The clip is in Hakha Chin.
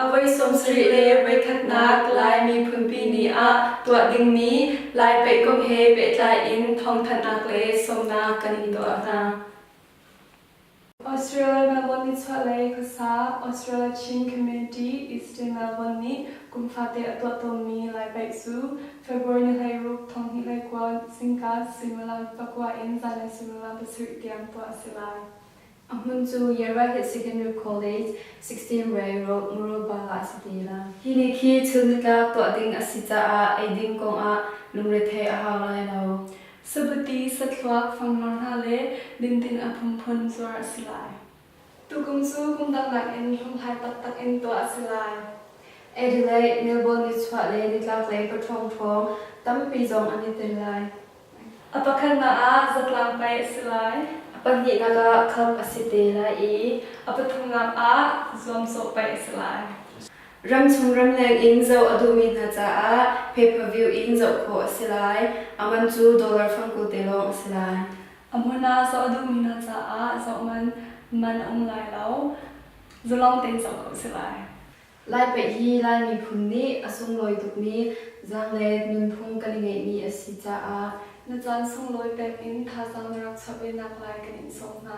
Avoi sawmsarih le voikhatnak Lai miphunpi ni ah tuah dingmi Lai pei kong he pehtlai in thawngthanhnak le sawmnak kan in tuah hna. Australia Melbourne nichuahlei khuasa Australia Chin Community Eastern Melbourne nih kumfate a tuah tawnmi Lai paih cu February ni hleiruk thonghnih lei kuan singka suimilam pakua in zanlei suimilam pasarih tiang tuah a si lai. A hmun cu Yara hi Secondary College, Sixteen Ray Road, Murrelbala a si te la. Hi nih khi thil nitlak tuah ding a si caah ei ding kongah lungrethei a hau lai lo. Sabuti, sathluak, fangmar hna le dinding a phunphun cuar a si lai. Tukum cu kum dang nakin hlunghlai taktak in tuah a si lai. Adelaide, Melbourne nichuah le nitlaklei pathrawng hrawng tampi zong an i tel lai. A pakhatnak ah zatlang pei a si lai. A pahnihnak ah khamh a si te lai i a pathumnak ah zuamcawh pei a si lai. Ramchung ramleng in zoh a duhmi hna caah pay-per-view in zoh khawh a si lai. A man cu dollar fangku te lawng a si lai. A hmun ah zoh a duhmi hna caah zoh man man a um lai lo. Zalong tein zoh ko a si lai. Lai pei hi Lai miphun nih a sunglawi tukmi zaang le nunphung kan i ngeihmi a si caah na caan sunglawi pek in thazaang na rak chap i naklai kan in sawm hna.